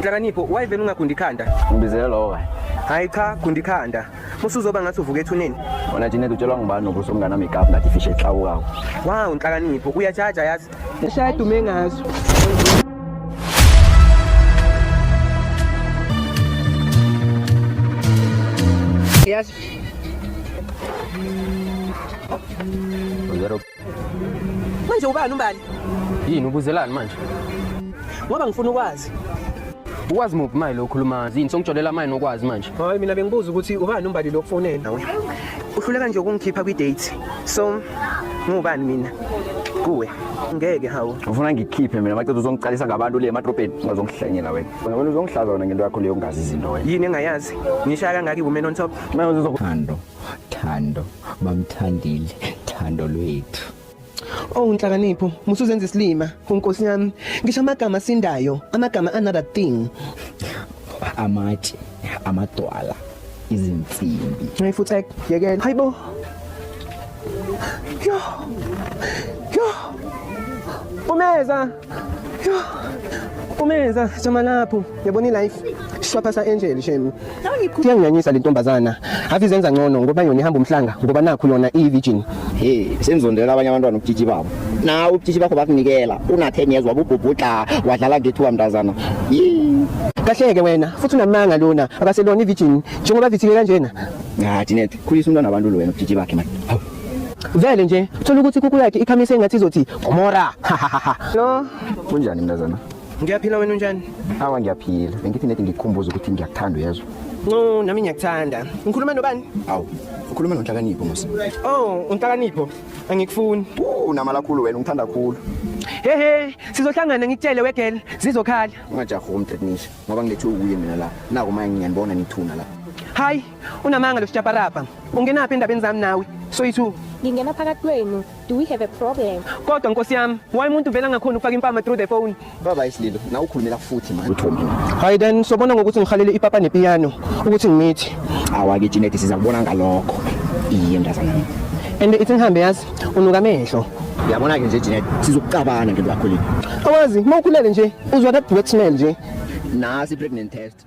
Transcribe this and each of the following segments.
Nhlakanipho why vele ungagundi ikhanda? Ngibizele lowo kanye. Hayi cha gundi ikhanda. Musuzoba ngathi uvuka ethuneni. Wena Janet utshelwa ngubani nokuthi umngane wami igap ngathi fish exawukawo. Wow nhlakanipho uyajaja yazi. Eshaya dume ngazo. Yes. Zero Manje ubani umbali? Yini ubuzelani manje? Ngoba ngifuna ukwazi. Ukwazi muphi manje lo khuluma? Yini songitsholela manje nokwazi manje? Hayi mina bengibuza ukuthi ubani umbali lo kufonela nawe. Uhluleka nje ukungikhipha kwi date. So ngubani mina? Kuwe. Ngeke hawu. Ufuna ngikhiphe mina maqeda uzongiqalisa ngabantu le emadrobheni ungazongihlanyela wena. Wena uzongshlaza wena ngento yakho leyo ungazi izinto wena. Yini engayazi? Ngishaya kangaki women on top? Manje uzokuthando. Thando bamthandile thando lwethu Oh nhlakanipho musuzenza isilima unkosi yami ngisho amagama sindayo amagama another thing amatshe amadwala izinsimbi Hey futhi yekela hayibo Yo Yo Umeza Umenza jama lapho yabona ilife shwapha sa angel shame kuyanganyanyisa le ntombazana ave izenza ngcono ngoba yona ihamba umhlanga ngoba nakho yona iyi virgin hey senzondela abanye abantwana ubutshitshi babo na ubutshitshi bakho bakunikela una 10 years wabubhubhudla wadlala ngethuba mntazana Yee. kahleke wena futhi unamanga lona akaselona ivirgin njengoba vithike kanjena ngathi net khulisa umntwana abantu lo wena ubutshitshi bakhe manje Vele nje thola ukuthi kuku yakhe ikhamise engathi izothi Gomora. No. Kunjani mntazana? Ngiyaphila wena unjani? Awa ngiyaphila. Bengithi nedi ngikukhumbuza ukuthi ngiyakuthanda uyezwa. No, nami ngiyakuthanda. Ngikhuluma nobani? Awu, ukhuluma noNhlakanipho musa. Oh, uNhlakanipho. Angikufuni. Unamala khulu wena ungithanda khulu. Hehe, sizohlangana ngikutshele wegel, zizokhala. Ungajahi umtetnisha ngoba ngilethe ukuye mina la. Naku manje ngiyanibona nithuna la. Hayi, Unamanga lo sjaparapa. Ungenaphi endabeni zami nawe? Soyithu. Ngingena phakathi kwenu. Do we have a problem? Kodwa nkosi yami, why umuntu vela ngakhona ukufaka impama through the phone? Baba isililo, na ukhulumela futhi manje. Uthomile. Hayi then sobona ngokuthi ngihalele ipapa nepiano ukuthi ngimithi. Awake Jeanette sizakubona ngalokho. Iye mntazana. And ithi ngihambe yazi unuka amehlo. Yabona ke nje Jeanette sizokucabana ngento yakho le. Awazi, mawukhulele nje uzwa that wet smell nje. Nasi pregnant test.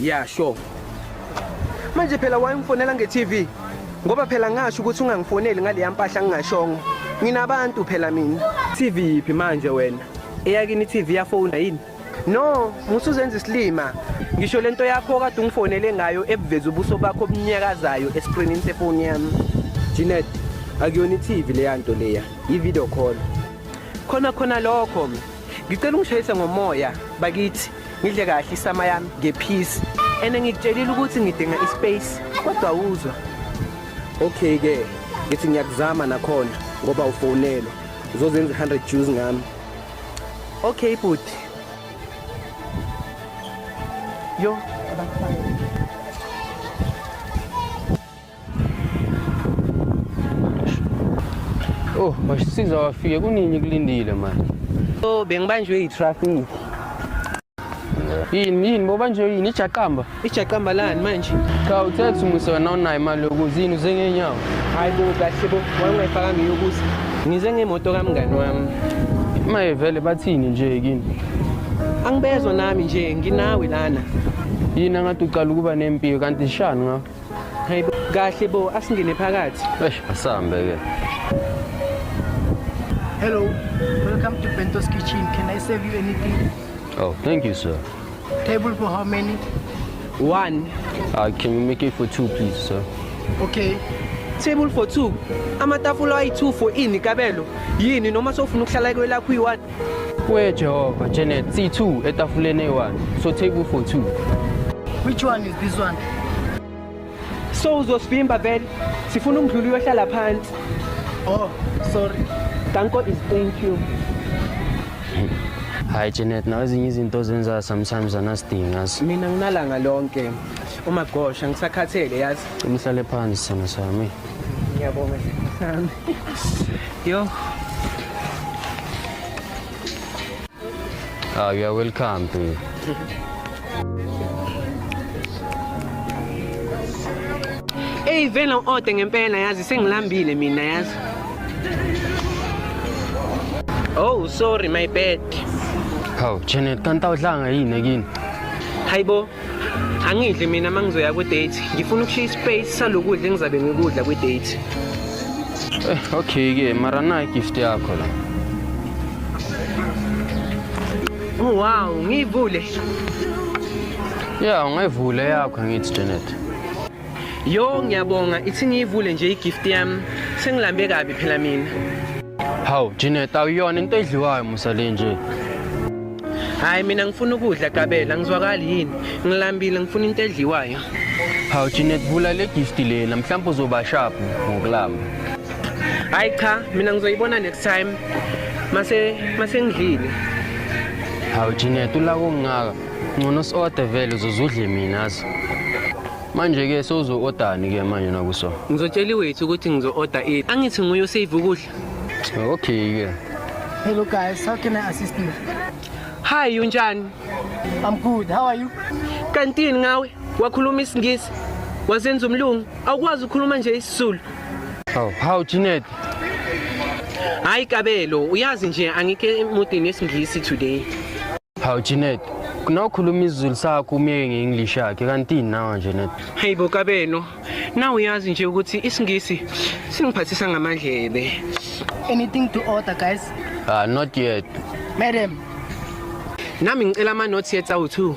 Yeah, sure. Manje phela wayemfonela nge-TV ngoba phela ngasho ukuthi ungangifoneli ngaleya mpahla ngingashongo. Nginabantu phela mina. TV yiphi manje wena? Eyakini i-TV yafona yini? No, musuzenza isilima. Ngisho lento yakho kade ungifonele ngayo ebuveza ubuso bakho obunyakazayo escreenini sefoni yami. Jeanette, akuyona iTV leya nto leya, i-video call. Khona khona lokho. Ngicela ungishayise ngomoya bakithi. Ngidle kahle isama yami ngephisi. Ene ngikutshelile ukuthi ngidinga ispace kodwa uzwa. Okay ke, ngithi ngiyakuzama nakhona ngoba ufonelwa. Uzozenza 100 Jews ngami. Okay bhuti. Yo, abafana. Oh, bashisiza wafike kunini kulindile manje. Oh, bengibanjwe yitraffic. yini yini boba nje yini ijaqamba ijaqamba lani manje cha uthe kuthi umuse wena unayo imali yokuza yini uze ngenyawo hayi bo kahle bo wayengayifaka ngiyokuza ngize ngemoto kamngani wami maye vele bathini nje kini angibezwa nami nje nginawe lana yini angathi ucala ukuba nempilo kanti shani ngakho Hey bo, kahle bo asingene phakathi. Eish asambe ke. Hello. Welcome to Bento's Kitchen. Can I serve you anything? Oh, thank you sir. Table for how many? One. Uh, can you make it for two please sir? Okay. Table for two. Amatafula ayi-2 for ini kabelo. Yini noma sofuna ukuhlala kwelakho uyi-one. Wee Jehova, Janet, C2 etafuleni eyi-1. So take u for 2. Which one is this one? So uzosivimba vele. Sifuna umdluli uyohlala phansi. Oh, sorry. Danko is thank you. Hayi Janet, nawe ezinye izinto ozenza sometimes anasidingi yazi. Mina nginalanga lonke. Uma gosha ngisakhathele yazi. Umhlale phansi sana sami. Ngiyabonga sami. Yo. Ah, you are welcome to. Hey vele ode ngempela yazi sengilambile mina yazi. Oh sorry my bad. Hawu Janet kanti awudlanga yini ekini? Hayibo angidli mina uma ngizoya kwi-date ngifuna ukushiya ispace salokudla engizabe ngikudla kwi-date eh, okay-ke mara nayi gift yakho la oh, wow ngiyivule ya ungayivule yakho angithi janet Yo ngiyabonga ithi ngiyivule nje igift yami sengilambe kabi phela mina. Hawu Janet awuyona into edliwayo musa le nje. Hayi mina ngifuna ukudla Gabela ngizwakali yini ngilambile ngifuna into edliwayo. Hawu Janet vula le gift lena mhlawumbe uzoba sharp ngokulamba. Hayi cha mina ngizoyibona next time mase mase ngidlile. Hawu Janet ulako ngaka Ngcono si-order vele uzozudle mina azi. Manje-ke sewuzo-odani-ke manje nakuso? Ngizotshela iwethu ukuthi ngizo-order ini. Angithi nguye osave ukudla. Okay-ke. Hello guys, how can I assist you? Hi, unjani? I'm good. How are you? Kantini ngawe? Wakhuluma isingisi? Wazenza umlungu? Awukwazi ukukhuluma nje isizulu? How, how Jeanette? Hayi Kabelo, uyazi nje angike emudini yesingisi today. Hawu Janet, kunawukhuluma isiZulu sakho umyeke nge-English yakhe kanti nawa nje net. Hey bo kabeno, na uyazi nje ukuthi isingisi singiphathisa ngamadlebe. Anything to order guys? Ah not yet. Madam, Nami ngicela ama notes ye tsawu 2.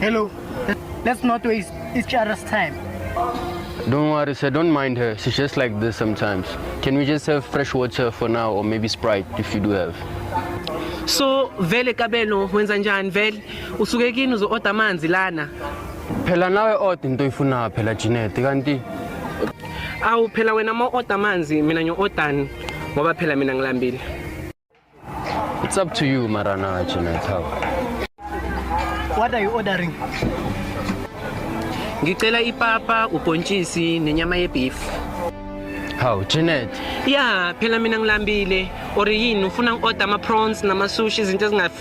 Hello. Let's not waste each other's time. Don't worry, sir. Don't mind her. She's just like this sometimes. Can we just have fresh water for now or maybe Sprite if you do have? So vele kabelo wenza njani vele usuke kini uzo order amanzi lana Phela nawe order into oyifunayo phela Janet kanti awu phela wena ma order amanzi mina ngiyo ordani ngoba phela mina ngilambile It's up to you Marana Janet. How? What are you ordering? Ngicela ipapa, ubhontshisi nenyama yebeef. How Janet? Yeah, phela mina ngilambile. Or yini ufuna ngi-order ama prawns nama sushi izinto ezingafi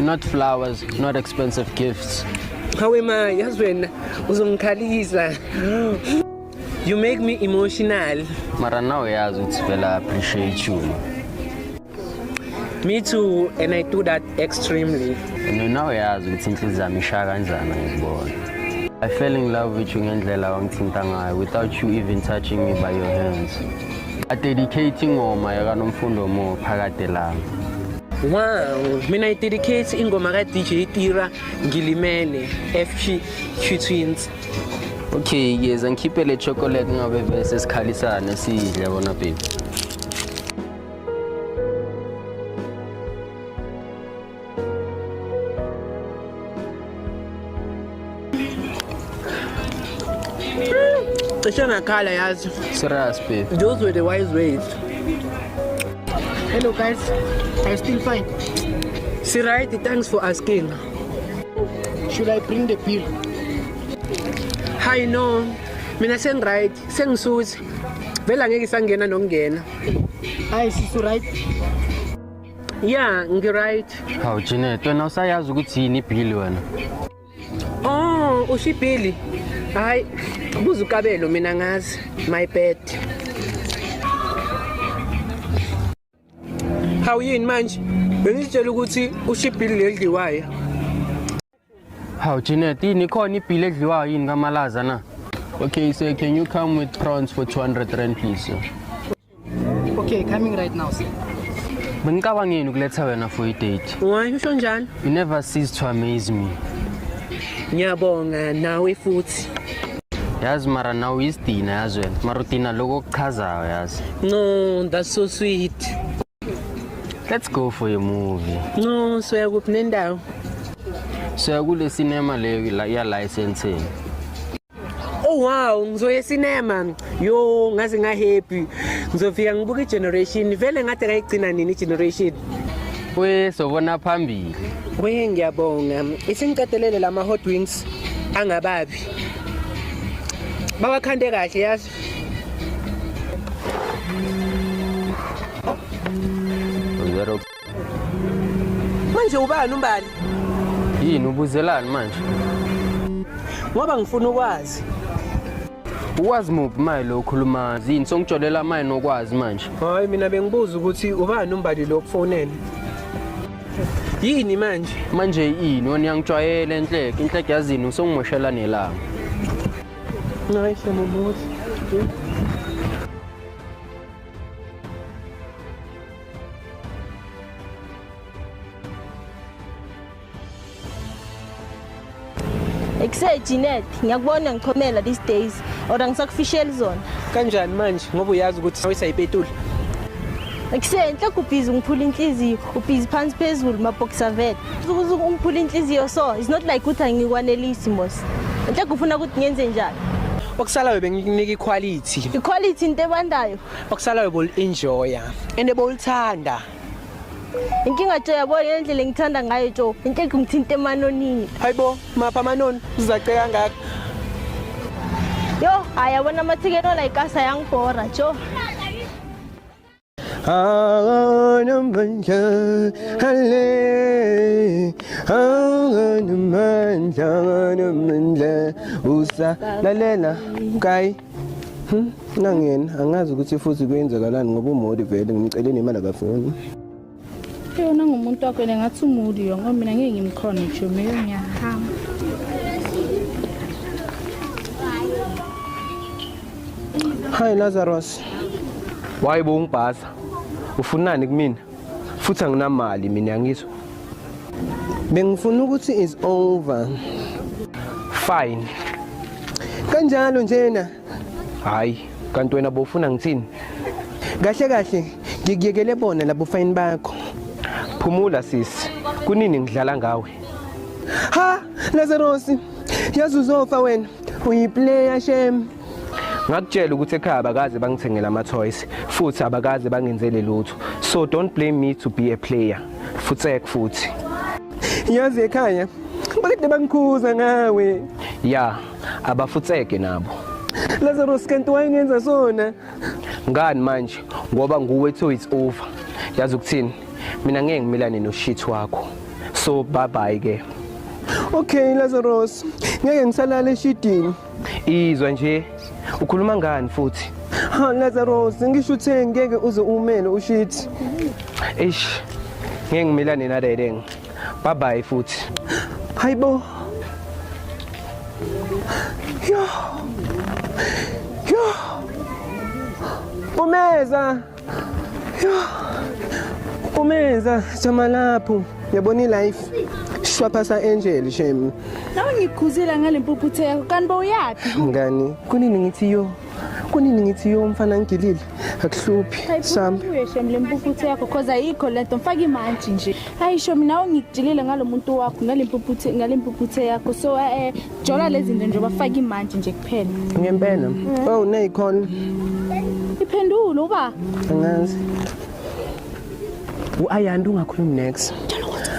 not flowers, not expensive gifts. Hawe ma, yazi wena uzongikhalisa. You make me emotional. Mara now uyazi ukuthi vele I appreciate you. Me too and I do that extremely. And now uyazi ukuthi inhliziyo yami ishaya kanjani ngikubona. I fell in love with you ngendlela wangithinta ngayo without you even touching me by your hands. adedicate ingoma yakanomfundo mo phakade lami Wow, mina idedicate ingoma ka DJ Tira ngilimele FG Q Twins. Okay, ngiyeza ngikhiphe le chocolate ngabe bese sikhalisane sidle bona baby. cishe ngakhala yazi serious babe those were the wise ways hello guys are you still fine si right thanks for asking should i bring the pill hi no mina sengiright sengisuthi vele angeke isangena nokungena hayi sisi right ya ngiright hawu janet wena usayazi ukuthi yini ibhili wena oh usho ibhili hhayi buza ukabelo mina ngazi my bed hawu yini manje bengizitshela ukuthi usho ibhili leli dliwayo Hawu Jeanette, yini khona ibhili edliwayo yini kamalaza na? Okay, sir, can you come with prawns for 200 rand please? sir? Okay, coming right now, sir. Bengicabangeni ukuletha wena for i-date. Why usho njalo? You never cease to amaze me. Ngiyabonga nawe futhi. Yazi mara nawe uyisidina yazi wena. Mara udina lokho okuchazayo yazi. No, that's so sweet. Let's go for a movie. No, soya kuphi nendawo? Soya kule cinema leyo la ya licensing. Oh wow, ngizoya cinema. Yo, ngaze nga happy. Ngizofika ngibuka igeneration. Vele ngathi kayigcina nini igeneration? We sobona phambili. We ngiyabonga. Isingiqedelele lama hot wings angababi. Bawakhande kahle yazi. Uyero Manje ubani umbali? yini ubuzelani manje? Ngoba ngifuna ukwazi. Ukwazi muphi maye lo ukhuluma zini songijolela maye nokwazi manje. Hayi mina bengibuza ukuthi ubani umbali lo kufonela. Yini manje? Manje yini wena uyangijwayela enhleke inhleke yazini usongimoshela nelanga. Nice, I'm almost. Ekuse Jeanette, ngiyakubona ngichomela these days or angisakufisheli zona. Kanjani manje ngoba uyazi ukuthi sawisa ipetula? Ekuse enhle kubhizi ngiphula inhliziyo, ubhizi phansi phezulu mabhoxer vet. ungiphula inhliziyo so it's not like ukuthi angikwanelisi mos nhle kufuna ukuthi ngenze njani okusalayo bengikunika iquality iquality into ebandayo okusalayo bolienjoya and bolithanda inkinga jo yabo yendlela engithanda ngayo jo inkinga ngithinta emanonini hayibo mapha amanoni uzaceka kangaka yo ayabona amathikeni olayikasa yangibhora jo Ağanım ben kâhale Ağanım ben kâhanım ben le Usa la le la Kay Hmm, nangena angazi ukuthi futhi kwenzakalani ngoba umodi vele ngimceleni imali akafuni yona ngumuntu wakho yena ngathi umuli yo ngoba mina ngeke ngimkhona ngisho meyo ngiyahamba Hi Lazarus. Why bo ungibhaza? Ufunani kumina? Futhi anginamali mina ngizwe. Bengifuna ukuthi is over. Fine. Kanjalo njena. hayi kanti wena bofuna ngithini kahle kahle ngikuyekele bona labo fayini bakho phumula sisi kunini ngidlala ngawe ha lazarosi yazi uzofa wena uyiplayer shem ngakutshela ukuthi ekhaya abakaze bangithengela ama-toys futhi abakaze bangenzele lutho so don't blame me to be a player futsek futhi yazi ekhaya bakade bangikhuza ngawe ya abafutseke nabo Lazarus kanti wayengenza sona ngani manje ngoba nguwe to it's over yazi ukuthini mina ngeke ngimilane noshit wakho so bye bye ke Okay Lazarus ngeke ngisalala eshidini izwa nje ukhuluma ngani futhi ha Lazarus ngisho uthe ngeke uze umele ushit eish ngeke ngimilane naleleng Bye bye futhi. Hayibo. Yo. Yo. Umeza. Yo. Umeza jama lapho. Yabona ilife. Shwaphasa angel shem. Nawe ngikhuzile ngale mpuphuthe yakho kanti bowuyaphi? Ngani? Kunini ngithi yo. kunini ngithi yo mfana ngigilile akuhluphi sambe uyeshem le mpuphuthe yakho cause ayikho lento mfaka imantshi nje hayi sho mina ungigilile ngalo muntu wakho ngale mpuphuthe ngale mpuphuthe yakho so eh, eh jola lezi zinto nje bafaka imantshi nje kuphela ngempela mm. oh neyikhona iphendulo uba angazi uayanda ungakhulumi next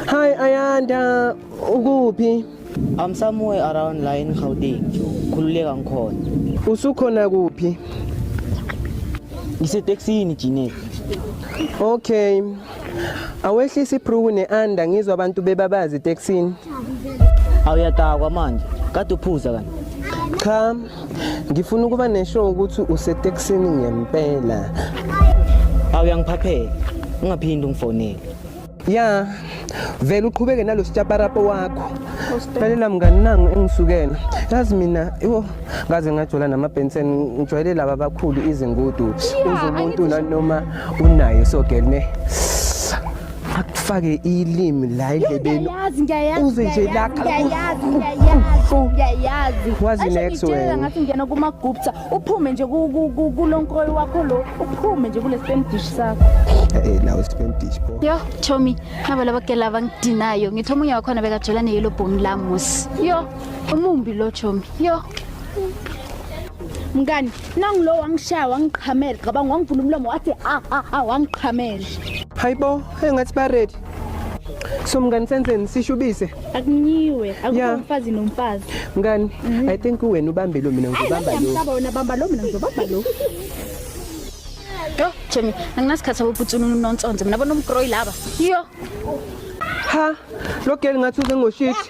hi ayanda ukuphi I'm somewhere around la in Gauteng. Khululeka ngikhona. Usukhona kuphi? Ngiseteksini Jinet. Okay. Awehlisa ibruku neanda ngizwa abantu bebabazi eteksini. Awuyadakwa manje. Kade uphuza kanti. Cha. Ngifuna ukuba nesho ukuthi useteksini ngempela. Awuyangiphaphela. Ungaphindi ungifonele. ya vele uqhubeke nalo sitshaparapo wakho lalela mngani nangu engisukela yazi mina yo ngaze ngajola namabhensen ngijwayele laba abakhulu izingudu uze umuntu nanoma unayo so girl ne akufake ilimi la endlebeni Ngiyayazi, ngiyayazi, Uze nje ngiyayazi, lakha. ngiyayazi, ngiyayazi, ngiyayazi. Wazi Asho next ngitshela wena. ngathi ngiyena kumagupta uphume nje kulonkroyi wakho lo uphume nje kule spam dish sakho eh, eh nawo spam dish bo yo chomi nabo laba ke laba ngidinayo ngithe omunye wakhona bekajola ne yellow bone la musi yo umumbi lo chomi yo mngani nangulo wangishaya wangiqhamela cabanga wangivula umlomo wathi a ah, a ah, a ah, wangiqhamela hayibo engathi ba ready so mngani senzeni sishubise akunyiwe Yeah. akukho mfazi nomfazi mngani Mhm. i think uwena ubambe lo mina ngizobamba lo ngiyamhlaba wena bamba lo mina ngizobamba lo yo jemi anginasikhathi saboputsuni unonsonze mina bona umgroyi laba yo ha lo girl ngathi uze ngoshithi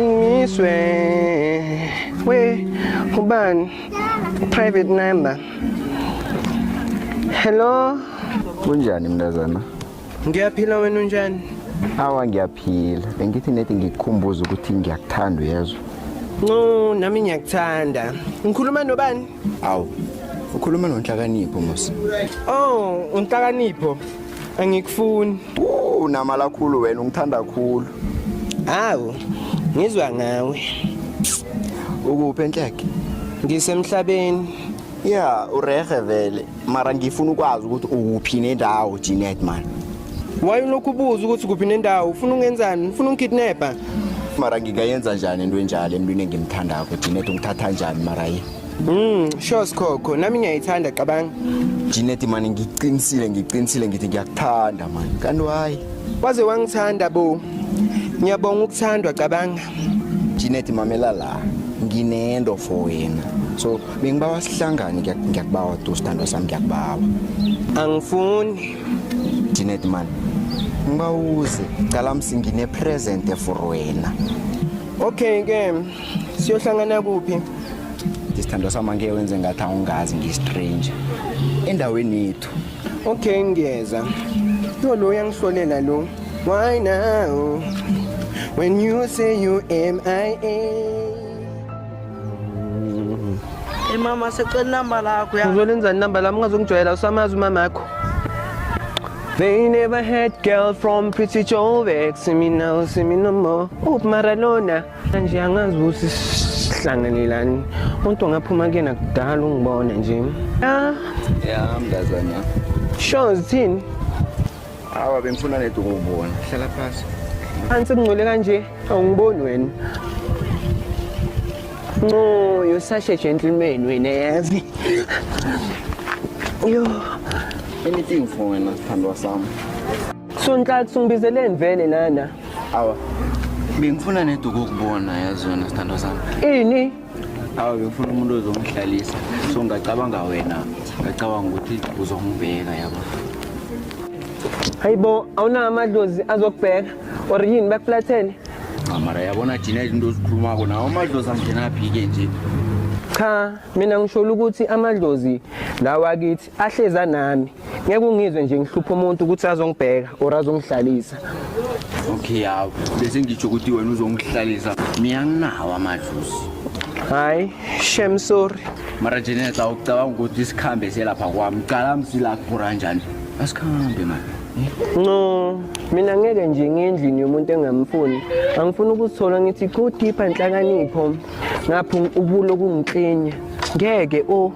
Ngiswe we ubani private number. Hello. Kunjani mntazana? Ngiyaphila wena unjani? Awa ngiyaphila. Bengithi nethi ngikukhumbuza ukuthi ngiyakuthanda uyezwa. No, nami ngiyakuthanda. Ngikhuluma nobani? Awu. Ukhuluma nonhlakanipho mos. Oh, unhlakanipho. Angikufuni. Unamala khulu wena ungithanda khulu. Hawu, ngizwa ngawe. Ukuphi enhleke? Ngisemhlabeni. Yeah, urehe vele. Mara ngifuna ukwazi ukuthi ukuphi nendawo Jeanette man. Why ulokhu ubuza ukuthi kuphi nendawo? Ufuna ungenzani? Ufuna ungikidnapper? Mara ngingayenza njani into enjalo emntwini engimthandako Jeanette ungithatha njani mara yini? Mm, sure Skhokho, nami ngiyayithanda cabanga. Jeanette mani ngiqinisile ngiqinisile ngithi ngiyakuthanda mani. Kanti why? Waze wangithanda bo. Ngiyabonga ukuthandwa cabanga. Jeanette mamela la. Nginento for wena. So bengibawa sihlangane ngiyak- ngiyakubawa tu sithandwa sami ngiyakubawa. Angifuni. Jeanette mani. Ngibawuze cala msingine present for wena. Okay ke. siyohlangana kuphi isithandwa sami angeke wenze ngathi awungazi ngiyistranger endaweni yethu okay ngiyeza yo lo uyangihlolela lo why now when you say you mia Hey mama secela inamba lakho ya. uzolenzani namba lami ungazongijwayela usamazi umama akho They never had girl from Pretty Joe Vex, see me now, see me no more. Up Maradona. nje angazi ukuthi sihlanganelani umuntu ongaphuma kuyena kudala ungibone nje ya ya mntazana sure zithini awa bengifuna nedi ukubona hlala phasi phansi kungcole kanje awungiboni wena no you're such a gentleman wena yazi yo anything for wena sithandwa sami sontathu ngibizeleni vele nana awa bengifuna neduku ukubona yazi yona sithandwa sami ini awa bengifuna umuntu ozongihlalisa so ngacabanga wena ngacabanga ukuthi uzongibheka yabo hayibo awunawo amadlozi azokubheka or yini bakuflathele mara yabona thina izinto ozikhulumako nawo amadlozi angenaphi-ke nje cha mina ngisholo ukuthi amadlozi lawa kithi ahleza nami ngeke ungizwe nje ngihlupha umuntu ukuthi azongibheka or azongihlalisa okay yawo bese ngitsho ukuthi wena uzongihlalisa mina nginawo amadluzi hayi shem sorry mara jeneta ucabanga ukuthi isikhambe selapha kwami cala msila kuphura njani asikhambe mani no mina ngeke nje ngendlini yomuntu engamfuni angifuni ukuzithola ngithi go deeper nhlakanipho ngapha ubulo kungiklinya ngeke o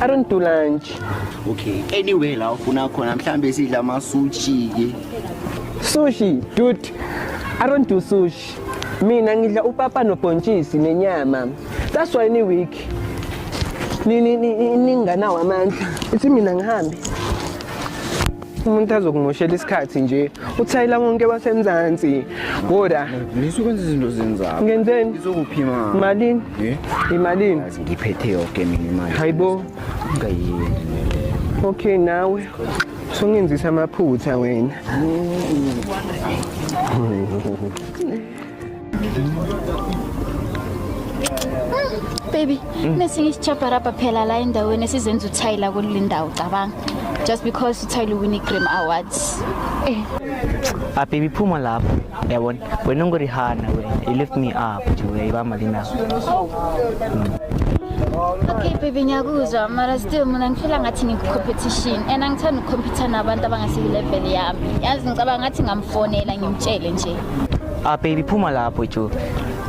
I don't do lunch. Okay. Anyway la ufuna khona mhlambe sidla ama sushi ke. Sushi, dude. I don't do sushi. Mina ngidla upapa nobhontshisi nenyama. That's why ni week. Ni ni ni ninganawo amandla. Ithi mina ngihambe. umuntu azokumoshela isikhathi nje uthayela konke basemzansi ngoda ngisuke kwenza izinto zenzako ngenzeni ngizokuphima malini eh? imalini ngiphethe yonke mina imali hayibo ngayini okay nawe sungenzisa amaphutha wena baby mm. nesinye isichaparapa phela la endaweni esizenza uthayi la kule ndawo cabanga just because uthayi luwini i-gram awards eh. ababy ah, phuma lapho yabona wena ungurihana wena you lift me up nje uyayibamba linawo okay baby ngiyakuzwa mara still mina ngifela ngathi ngikucompetition and angithanda ukucompetha nabantu abangasiyilevel yami yazi ngicabanga ngathi ngamfonela ngimtshele nje Ah baby phuma lapho jo.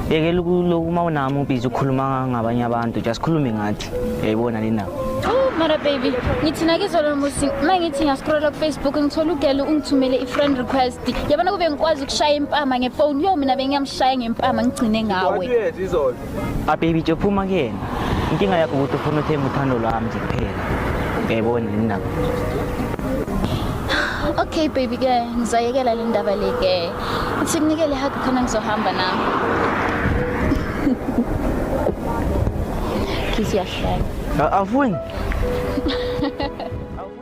Yekela ukulokhu uma unami ubiza ukhuluma ngabanye abantu, just khulume ngathi. Yayibona le ndaba. Oh, Mara baby, ngithi nakizolo musi uma ngithi ngiyaskrola kufacebook ngithola ugelo ungithumele i-friend request yabona kube ngikwazi ukushaya impama ngefoni yo mina bengiyamshaya ngempama ngigcine ngawe A baby nje phuma kuyena. Inkinga yakho ukuthi ufuna uthenge uthando lwami nje kuphela. Uyayibona yini nako? Okay baby ke ngizayekela le ndaba le ke. Uthi kunikele hug khona ngizohamba nami. Kiss yahlala. Awufuni? Awufuni.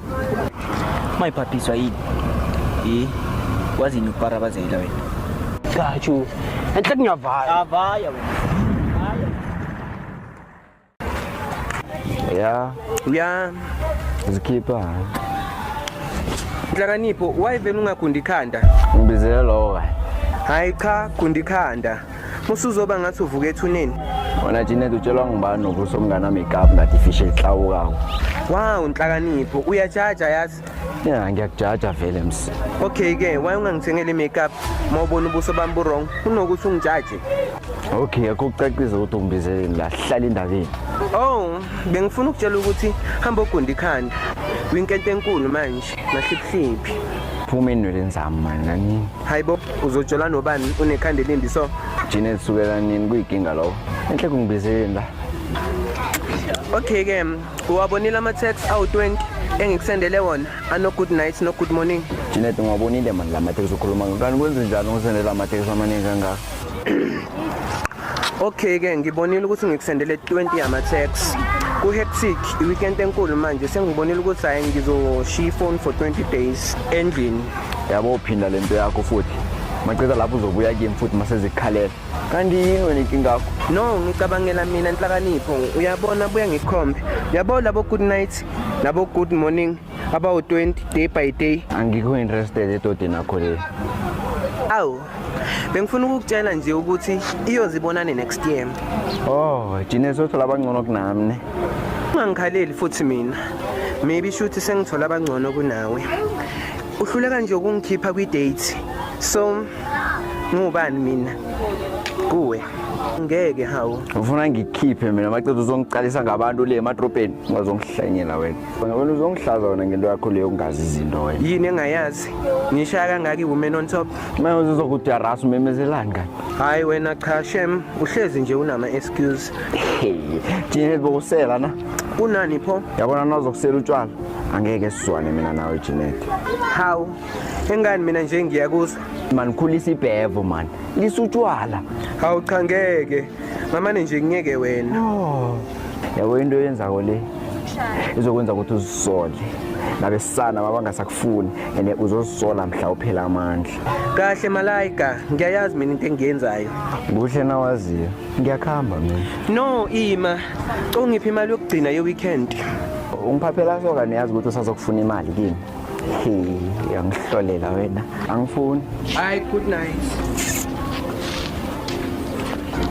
Mayiphaphiswa yini? Eh, wazini ukuparabazela wena? Gatshu. Enhle kunyavala. Avaya wena. Ya, Uya zikhipha. Nhlakanipho, why vele ungagundi ikhanda? Ngibizele lowo kahle. Hayi cha, gundi ikhanda. musuzoba ngathi uvuka ethuneni wena Janet utshelwa ngubani nobuso mngana makeup ngathi fish elihlawukawo wow nhlakanipho uyajaja yazi ya ngiyakujaja vele msi okay ke why ungangithengeli makeup mawubona ubuso bami bu wrong kunokuthi ungijaje okay akho kucacisa ukuthi ungibizeleni la hlala indabeni oh bengifuna ukutshela ukuthi hamba ogunda ikhanda kwinkente enkulu manje Mahliphliphi. Phuma enweleni zami mani nani. Hayibo uzojola nobani unekhanda elindi so. Jina elisukela nini kuyikinga lowo. Enhle kungibizeleni la. Okay ke uwabonile ama tax awu20 engikusendele wona ano good night no good morning. Jina ungabonile mani la matex ukhuluma ngani kwenze njani ngisendela ama tax amaningi kangaka. Okay ke ngibonile ukuthi ngikusendele 20 yama tax ku hectic i weekend enkulu manje sengibonile ukuthi hayi ngizoshiya phone for 20 days endlini yabo uphinda lento yakho futhi macela lapho uzobuya kimi futhi masezikhalela kanti yini wena inkinga yakho no ngicabangela mina inhlakanipho uyabona buya ngikhombe yabo labo good night labo good morning abawu-20 day by day angikho interested edodeni akho le awu bengifuna ukukutshela nje ukuthi iyozibonane next year oh jine sothola abangcono kunami ne ungangikhaleli futhi mina maybe shuthi sengithola abangcono kunawe uhluleka nje ukungikhipha kwi-date so ngubani mina kuwe ngeke hawu ufuna ngikhiphe mina macethu uzongiqalisa ngabantu le emadrobheni ungazongihlanyela wena Wena wena uzongihlaza wena ngento yakho leyo ungazi izinto wena. yini engayazi ngishaya kangaka iwoman on top Manje uzokudarasa umemezelani kani? hhayi wena cha shem uhlezi nje unama-excuse Hey, Jinel bokusela na. kunani pho Yabona nazokusela utshwala. Angeke sizwane mina nawe Jinel. hawu engani mina nje ngiyakuzwa Man khulisa ibhevo man. Lisutshwala. hawu cha ngeke ngamane nje ngiyeke wena oh. yabo into yenzako le izokwenza ukuthi uzisole nabesana mabangasakufuni and uzozisola mhla uphela amandla kahle malayika ngiyayazi mina into engiyenzayo kuhle nawaziyo ngiyakuhamba mina no ima congiphi imali yokugcina ye-weekend ungiphaphela soka niyazi ukuthi usazokufuna imali kimi uyangihlolela wena angifuni hayi good night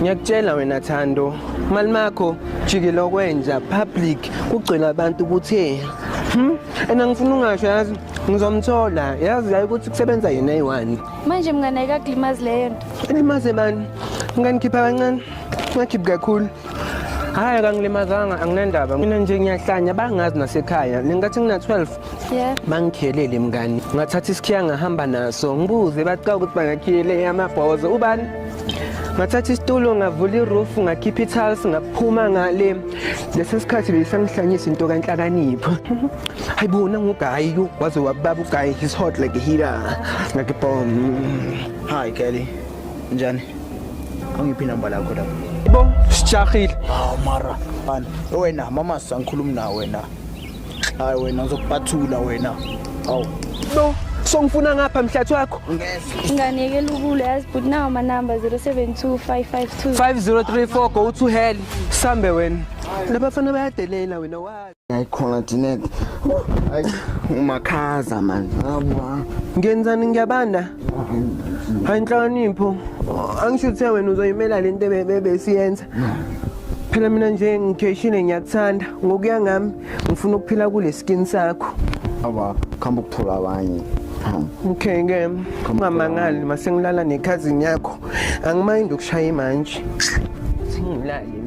ngiyakutshela wena thando mali makho jikile okwenja public kugcwele abantu ukuthi hmm? and angifuni ungasho yazi ngizomthola yazi yayi ukuthi kusebenza yena eyi-one manje mngane ayikakulimazi leyo nto ilimaze bani nganikhipha kancane ngakhiphi kakhulu hayi kangilimazanga anginendaba mina nje ngiyahlanya bangazi nasekhaya ngingathi ngina-12 yeah. bangikhelele mngani ngathatha isikhiya ngahamba naso ngibuze baqa ukuthi bangakhiyele amabhozo ubani ngathatha isitulo ngavula iroof ngakhipha ithals ngaphuma ngale lesi sikhathi beyisangihlanyisa into kanhlakanipho hayi bona ngugayi waze wababa ugayi his hot like a heater ngakibom hayi kelly Njani? Angiphi inamba lakho lapho. Bo, sijahile. Hawu mara, bani. Wena mama sangikhuluma na wena. Hayi wena ngizokupathula wena. Hawu. Bo, songifuna ngapha mhlathi wakho. Ngeke. Nganeke lukule yazi but nawo ma number 072552 5034 go to hell. Sambe wena. Labafana bayadelela wena wazi. ayikhona Jeanette hayi umakhaza mani ngabwa ngenzani ngiyabanda hayi inhlakanipho angisho uthe wena uzoyimela lento besiyenza phela mina nje ngigeshile ngiyakuthanda ngokuya ngami ngifuna ukuphila kule skin sakho awa khamba ukuthola abanye okay ke ungamangali masengilala nekhazini yakho angimayindi ukushaya imanje singilale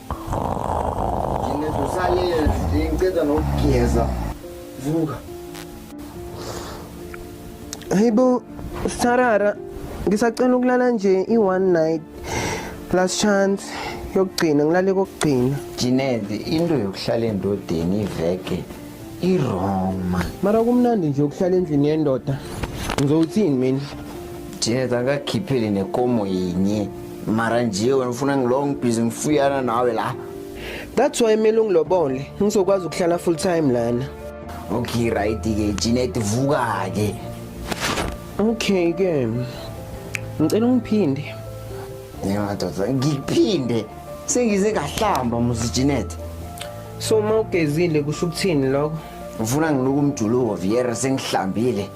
ngiceda nokugeza vuka hayibo sarara ngisacela ukulala nje i-one night last chance yokugcina ngilale kokugcina jinede into yokuhlala endodeni iveke i-wrong man mara kumnandi nje ukuhlala endlini yendoda ngizowuthini mina jinede angakhipheli nekomo yinye mara nje wena ufuna ngilo ngibhizi ngifuyana nawe la that's why kumele ungilobole ngizokwazi ukuhlala full time lana okay right ke Jeanette vuka ke okay ke ngicela ungiphinde ngiyadoda ngiphinde sengize ngahlamba muzi Jeanette so uma ugezile kusho ukuthini lokho ufuna ngiluka umjuluko viyere sengihlambile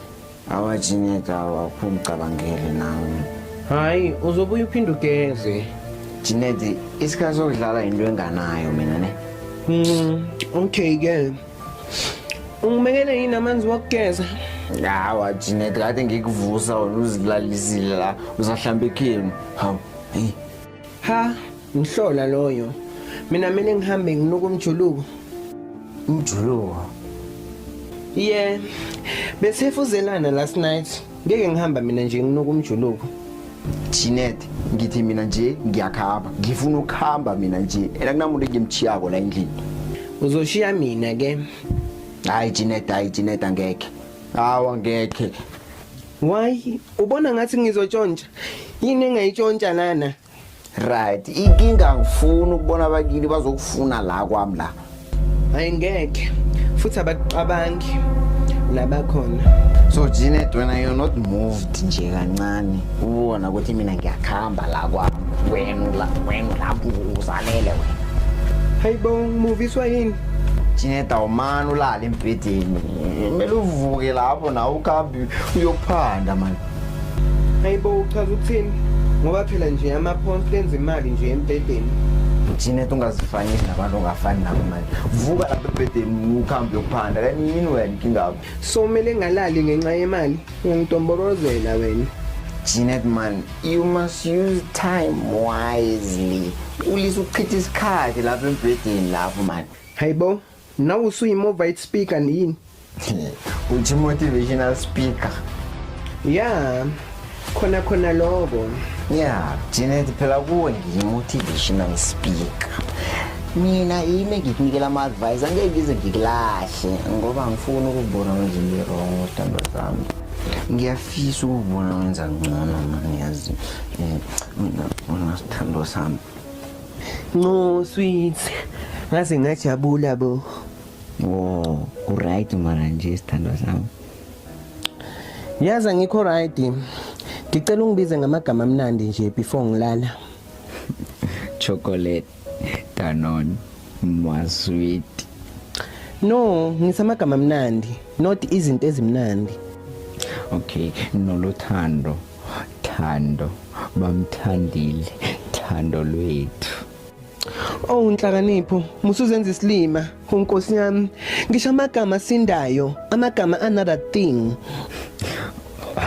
Awajineka awakho ngicabangele nawe. Hayi uzobuya uphinde ugeze. Jinedi isikhathi sokudlala into enganayo mina ne. Mm, okay ke. Ungimekele yini amanzi wokugeza? Hawa Jinedi kade ngikuvusa wena uzilalisile la uzahlamba ikhemu. Hawu. Hey. Ha, ngihlola loyo. Mina mina ngihambe nginuka umjuluko. Umjuluko. Yeah. Besefuzelana last night. Ngeke ngihamba mina nje nginuka umjuluko. Chinet ngithi mina nje ngiyakhamba ngifuna ukuhamba mina nje ena kunamuntu engimchiyako la endlini uzoshiya mina ke hayi Chinet hayi Chinet angeke hawa ngeke why Ubona ngathi ngizotshontsha. Yini engayitshontsha lana? Right. Inkinga ngifuna ukubona abakini bazokufuna la kwami la. Hayi ngeke. Futhi abakucabangi labakhona. So Janet when I am not moved nje kancane ubona ukuthi mina ngiyakhamba la kwami. Wena la wena lapho uzalele wena. Hayibo ngimuviswa yini? Janet awumani ulala embhedeni. kumele uvuke lapho nawe ukabi uyophanda mani hayi bo uchaza ukuthini ngoba phela nje ama-pounds enza imali nje embhedeni thina tungazifanisi nabantu ongafani nabo manje vuka lapha ebhedeni ukuhambe yokuphanda kanti yini wena inkingabo so kumele ngalali ngenxa yemali ungangidonborozela wena Jeanette man you must use time wisely ulise ukuchitha isikhathi lapha embhedeni lapho manje hayibo Nawe usuyimovaid speaker yini? Uthi motivational speaker. Yeah. Khona khona lokho. Yeah, Janet phela kuwe ngiyimotivational speaker. Mina yimi ngikunikela ama advice angeke ngize ngikulahle ngoba ngifuna ukubona nje ngirong utando zami. Ngiyafisa ukubona wenza ngcono manje yazi. Eh, mina unasithando sami. Nqo sweet. Ngaze ngajabula bo. Oh, uright mara nje sithandwa sami. Yazi ngikho right. Ngicela ungibize ngamagama amnandi nje before ngilala. Chocolate, Danone, Mwa sweet. No, ngisamagama amnandi, not izinto ezimnandi. Okay, nolothando. Thando bamthandile thando lwethu Oh nhlakanipho musuzenza isilima unkosi yami ngisho amagama sindayo amagama another thing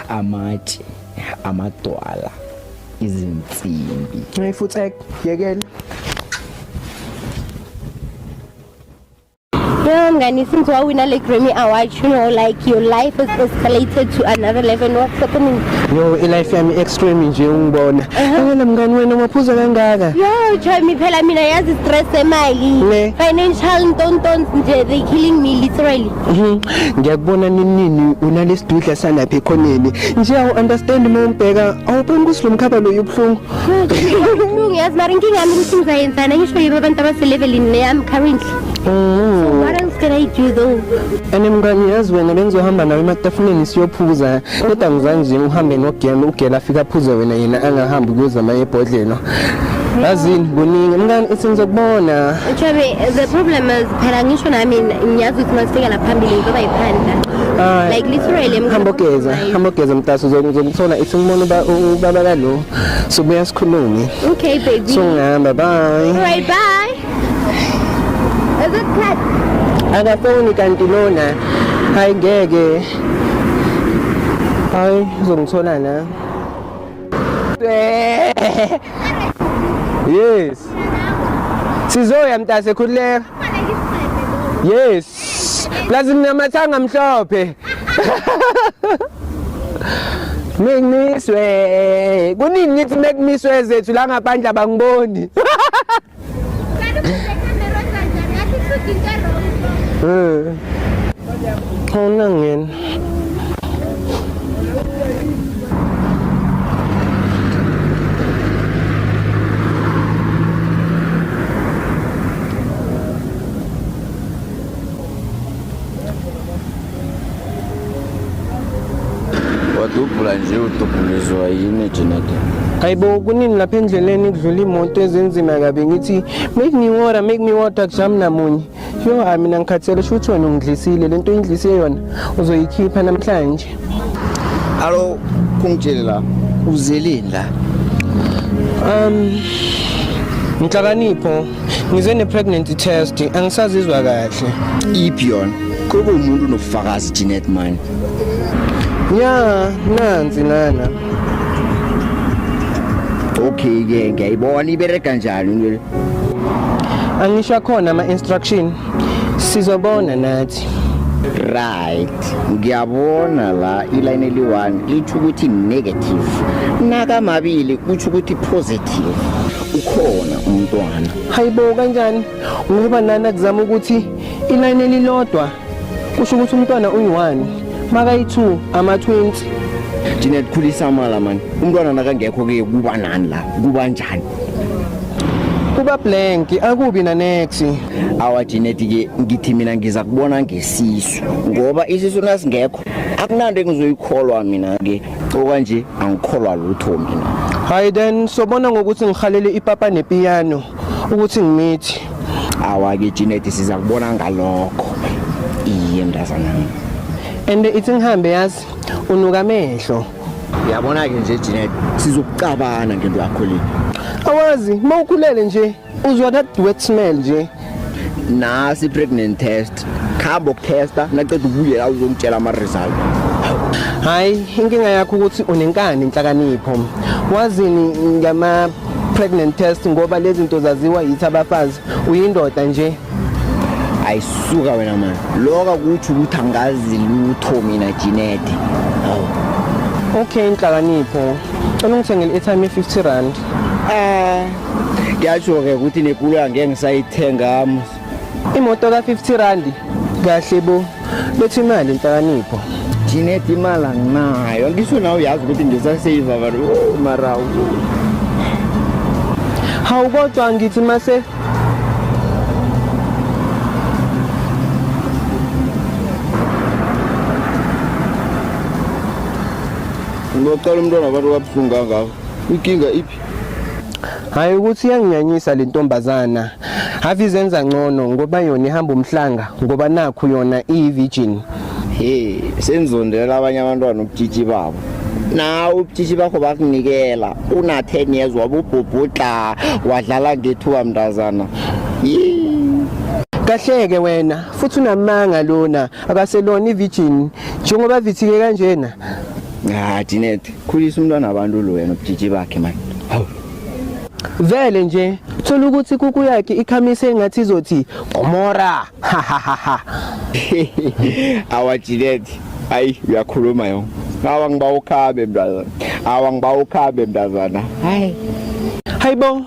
amatshe amadwala izinsimbi Hey futhi yekela Yo, Ngani, since you win a like Grammy Award, you know, like your life is escalated to another level. And what's happening? Yo, i-life yami extreme nje ungibona. Awela mngani wena umaphuza kangaka. Yo, Joymi, phela mina yazi stress emali. Ne. Financial ntontons nje, they killing me literally. Mhm. Ngiyakubona ninini unalesidudla salapha ekhoneni. Nje awu understand uma umbheka awuboni ukuthi lo mkhaba lo ubuhlungu. Ubuhlungu yazi mara inkinga yami ukuthi ngizayenzana ngisho yibo abantu abaselevelini neyami currently. Oh. What else can I do though? And mngani yazi wena bengizohamba nawe ematafuleni siyophuza kodwa ngizange nje uhambe nogela ugela afika aphuze wena yena angahambi kuyozama ebhodlelo yazini kuningi mngani ithi ngizokubona Chabe, the problem is phela ngisho nami ngiyazi ukuthi masifika la phambili ngizoba yiphanda. Ah, Like literally I'm hamba gonna- ogeza hamba ogeza mtaso uzokuthola ithi ngibona uba- u- ubaba kalo sobuya sikhulume Okay baby. so ngihamba bye Alright bye. akafoni kanti lona hayi ngeke hayi uzongithola na yes sizoya mntase khululeka yes plus nginamathanga mhlophe Mekmiswe. Kuningi ngithi mekmiswe zethu la ngaphandle abangiboni. Eh. Hauna ngena. wadubhula nje udubhulizwa yini jenade hayibo kuningi lapha endleleni kudlula imoto ezinzima kabi ngithi make me water make me water kujami namunye yo hayi mina ngikhathele sho ukuthi wena ungidlisile le nto uyindlise yona uzoyikhipha namhlanje alo kungitshele la uzeleni la um nhlakanipho ngize ne-pregnancy test angisazizwa kahle iphi yona kube umuntu unobufakazi jeanette mani ya nansi lana okay ke ngiyayibona ibereka njani into le angisho akhona ama-instruction sizobona nathi right ngiyabona la iline eli-one litho ukuthi negative nakamabili kutho ukuthi positive ukhona umntwana hayibo kanjani ngoba nani akuzama ukuthi iline elilodwa kusho ukuthi umntwana uyi-one makayi-two ama-twenty Janet khulisa amala mani umntwana nakangekho ke kuba nani la kuba njani kuba blank akubi na next awa Janet ke ngithi mina ngiza kubona ngesisu ngoba isisu nasingekho akunanto engizoyikholwa mina ke okwanje angikholwa lutho mina hayi then sobona ngokuthi ngihalele ipapa nepiyano ukuthi ngimithi awake Janet siza kubona ngalokho iye mntazana and ithi ngihambe yazi unuka amehlo yabona ke nje Janet sizokucabana ngento yakho le awazi mawukhulele nje uzwa that wet smell nje nasi pregnant test khamba ukutesta naqeda ubuye la uzongitshela ama result hayi inkinga yakho ukuthi unenkani inhlakanipho wazini ngama pregnant test ngoba lezi zinto zaziwa yithi abafazi uyindoda nje ayisuka wena mani loka kuthi ukuthi angazi lutho mina jinede okay inhlakanipho cela ungithengele i-time ye-50 rand Eh ngiyasho ke ukuthi nekoloyi angeke ngisayithenga imoto ka 50 rand kahle bo bethi imali inhlakanipho Jeanette imali anginayo ngisho nawe uyazi ukuthi ngisasave abantu oh, mara hawu kodwa ngithi mase ngiyocela umntwana abantu kabuhlungu kangaka Inkinga iphi? Hayi ukuthi iyanginyanyisa le ntombazana. Have izenza ngcono ngoba yona ihamba umhlanga ngoba nakhu yona iyivirgin. Hey, senzondela abanye abantwana ubutshitshi babo. nawe ubutshitshi bakho bakunikela una 10 years wabubhubhudla wadlala ngethuba mntazana Yee. Kahleke wena futhi unamanga lona akaselona ivirgin njengoba vithike kanjena Ah Janet, khulisa umntwana abantu lo wena ubujiji bakhe manje. Hawu. Vele nje thola ukuthi kuku yakhe ikhamise engathi izothi Gomora. Ha ha ha ha. Awa Janet, ayi uyakhuluma yo. Awa ngiba ukhabe mntazana. Awa ngiba ukhabe mntazana. Hayi. Hayibo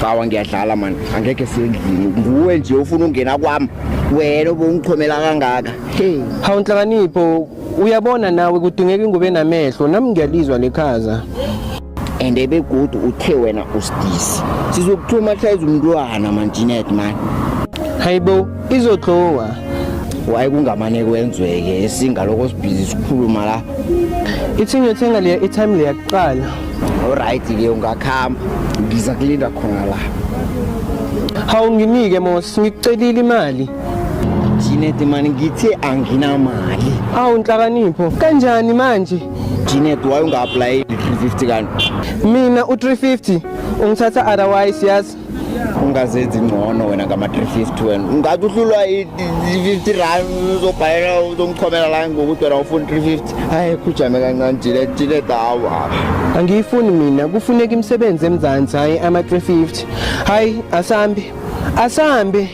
Cawa ngiyadlala man, angeke sendlini. Nguwe nje ufuna ungena kwami. Wena ubungichomela kangaka. Hey, Hawu nhlakanipho uyabona nawe kudingeka ingubo enamehlo nami ngiyalizwa lekhaza. and ebegudu uthe wena usidisi. Sizokuthuma hlayiza umntwana man Jeanette man. Hayibo izodlowa. Waye kungamane kwenzweke esingaloko sibhizi sikhuluma la. Ithi ngiyothenga leya i-time leya kuqala. Alright ke ungakhamba ngiza kulinda khona la. Hawu nginike Mos ngikucelile imali. Janet mani ngithe anginamali. Awu nhlakanipho kanjani manje? Janet why unga apply 350 kanti? Mina u 350 ungithatha otherwise yazi ungazenzi ngcono wena ngama-350 wena ungathi uhlulwa i-50 rand uzobhalela uzomchomela la ngokuthi wena ufuna 350 hayi khujame kancane jile jile dawa angiyifuni mina kufuneka imisebenzi emzansi hhayi ama-350 hhayi asambi asambi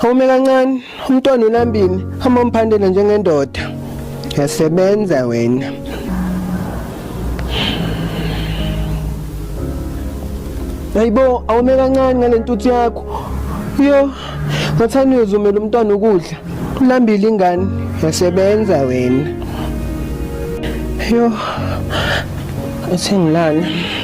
Home kancane umntwana ulambini hamba mphandela njengendoda yasebenza wena Hayibo awume kancane ngalentuthu yakho yo ngathani uyozumela umntwana ukudla ulambile ingane yasebenza wena yo athi ngilana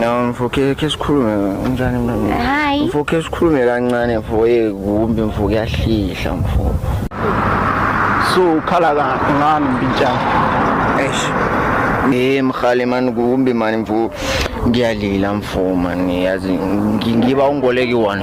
No mfo ke ke sikhulume unjani mntwana? Hayi. Mfo ke sikhulume kancane mfo ye kumbi mfo kuyahlihla mfo. So ukhala kahle ngani mpintshana? Eish. Eh mkhali man kumbi man mfo ngiyalila mfo man yazi ngi- ngiba ungoleki one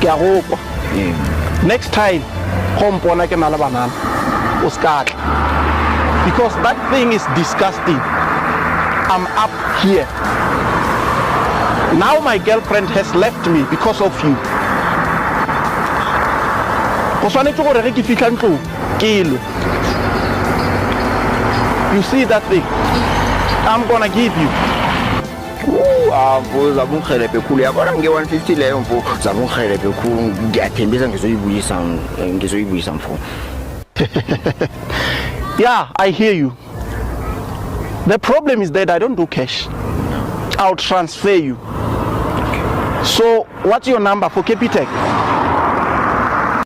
ke a go kwa next time go mpona ke na le banana o se ka tla because that thing is disgusting i'm up here now my girlfriend has left me because of you go tshwanetse gore ge ke fitlha ntlong ke lwe you see that thing i'm gonna give you mfo zakungihelebhe khulu yabona nge-150 leyo mfo zakungihelebhe khulu ngiyathembisa ngizoyibuyisa ngizoyibuyisa mfo yeah i hear you the problem is that i don't do cash i'll transfer you so what's your number for capitec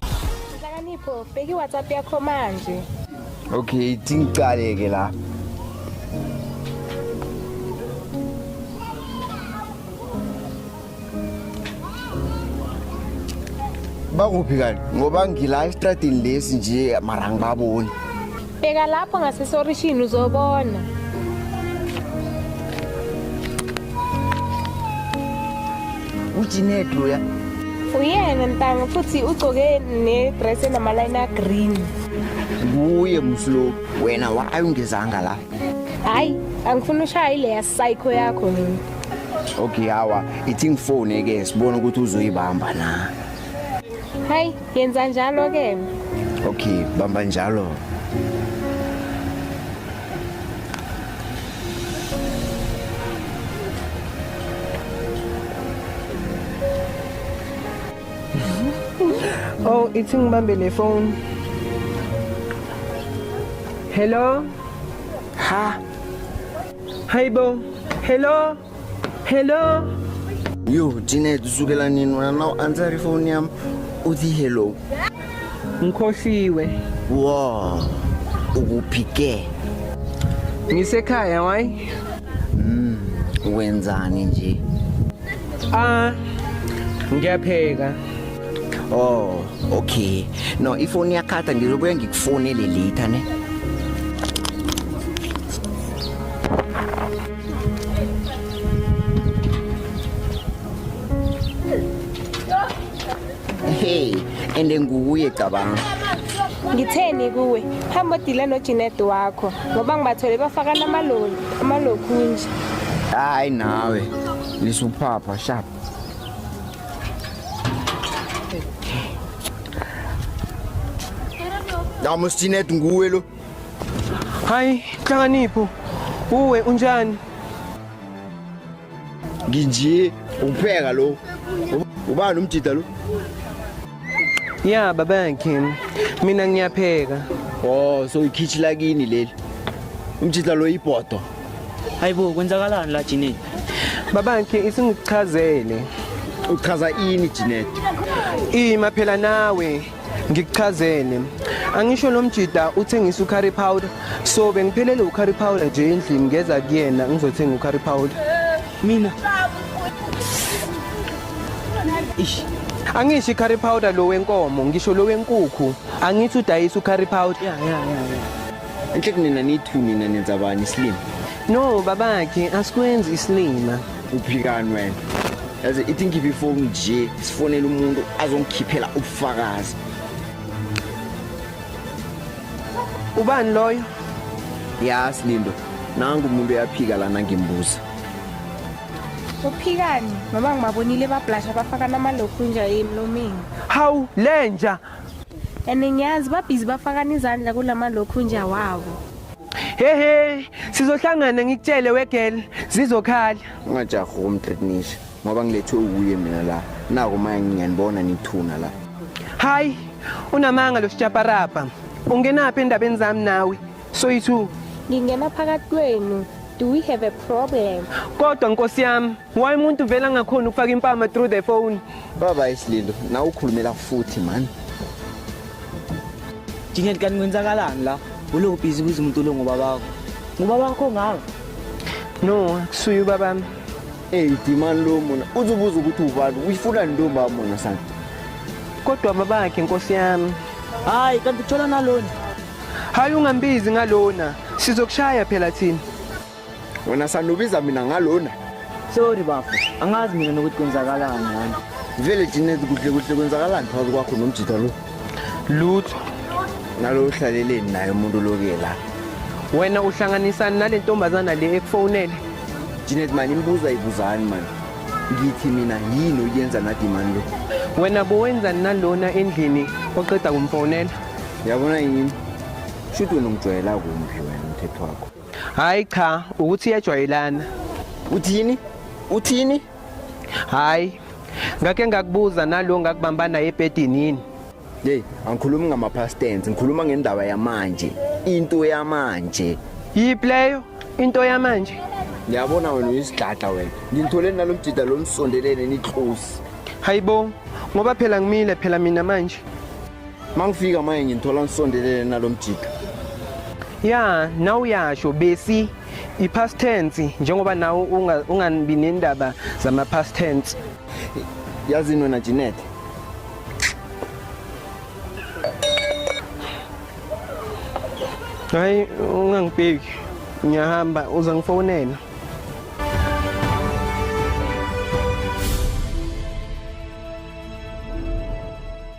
Nhlakanipho, bheka iWhatsApp yakho manje. Okay, tingicale ke la. Bakuphi kanti? Ngoba ngila estradini lesi nje mara ngibaboni. Bheka lapho ngasesorishini uzobona. Ujined loya. Uyena ntanga futhi ugcoke nedress enamaline agreen. Kuye mslo wena why ungezanga la? Hayi, angifuni ushaye leya psycho yakho mina. Okay hawa, ithi ngifone ke sibone ukuthi uzoyibamba na. Hayi, Yenza njalo ke. Okay, bamba njalo. Oh, ithi ngibambe le phone. Hello? Ha? Hayibo. Hello? Hello. Yo, Janet, usukela nini wena na u answer ifoni yami uthi hello. Ngikhohliwe. Wow. Ukuphi ke? Ngisekhaya why? Mm, wenzani nje? Ah, ngiyapheka. Oh, okay. No, ifoni yakhatha ngizobuya ngikufonele later ne. hey and nguye cabanga ngitheni kuwe hamba odile nojinet wakho ngoba ngibathole bafaka namaloli amalokhunje hayi nawe lisuphapha sharp Namusjinet nguwe lo Hayi, Nhlakanipho, uwe unjani? Nginje ukupheka lo. Ubani umjida lo? Ya baba yakhe. Mina ngiyapheka. Oh, so ikhichi lakini leli. Umjida lo ibhodo. Hayibo kwenzakalani la Jine? Baba yakhe isingichazele. Uchaza ini Jinet? Ima phela nawe. ngikuchazele angisho lo mjida uthengisa ucurry powder so bengiphelele ucurry powder nje endlini ngeza kuyena ngizothenga ucurry powder mina ish angisho curry powder lo wenkomo ngisho lo wenkukhu angithi udayisa ucurry powder ya ya ya enhle kunina nithu nina nenza bani isilima no babakhe asikwenzi isilima kuphikanwe yazi ithi ngikhiphe ifoni nje sifonele umuntu azongikhiphela ubufakazi ubani loyo ya silindo nangu umuntu uyaphika lana ngimbuza uphikani mama ngibabonile bablasha bafaka namalokhu nje emlomeni hawu lenja and ngiyazi babhizi bafakana izandla kula malokhunja wabo hehe sizohlangana ngikutshele wegel zizokhala ungajaha ukumtritnisha ngoba ngilethwe uwuye mina la nako maya ngiyanibona nithuna la hayi unamanga lo sijaparapa ungenaphi endabeni zami nawe soyi-two ngingena phakathi kwenu do we have a problem kodwa nkosi yami Why umuntu vela ngakhona ukufaka impama through the phone? Baba isililo, na ukhulumela futhi man. Jinget kan kwenzakalani la? Ulo busy kuze umuntu lo ngoba bakho. Ngoba bakho ngawe. No, kusuyu babami. Hey, dimani lo mona. Uzobuza ukuthi ubani, uyifuna ntombi amona sana. Kodwa babakhe inkosi yami. Hayi, kanti uthola nalona. Hayi ungambizi ngalona. Sizokushaya phela thina. wena sanubiza mina ngalona sorry bafo angazi mina nokuthi kwenzakalani ngani vele jinezi kuhle kuhle kwenzakalani phakathi kwakho nomjita lo lutho nalo uhlaleleni naye umuntu loke la wena uhlanganisani nale ntombazana le ekufonele jinezi mani imbuza ibuzani mani ngithi mina yini oyenza nadimani lo wena bowenzani nalona endlini oqeda kumfonela yabona yini shuthi wena ungijwayela kumbi wena umthetho wakho Hayi cha, ukuthi iyajwayelana. Uthini? Uthini? Hayi. Ngake ngakubuza nalo ngakubamba naye ebhedini yini? Hey, angikhulumi ngama past tense, ngikhuluma ngendaba yamanje. Into yamanje. Yiphi leyo? Into yamanje. Ngiyabona wena uyisigada wena. Ngithole nalomjida lomsondelene nitlosi. Hayibo, ngoba phela ngimile phela mina manje. mangifika manje nginthola ngisondelele nalomjika ya nawe uyasho besi i-past tense njengoba nawe ungabi nendaba zama-past tense yazini wena Jeanette hayi ungangibheki ngiyahamba uza ngifonela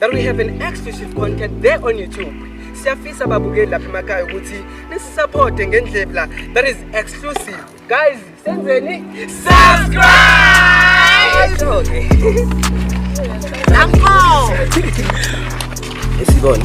that we have an exclusive content there on YouTube. Siyafisa babukeli lapha emakhaya ukuthi nisisupporte ngendlela that is exclusive. Guys, senzeni subscribe. Nampo. Isibona.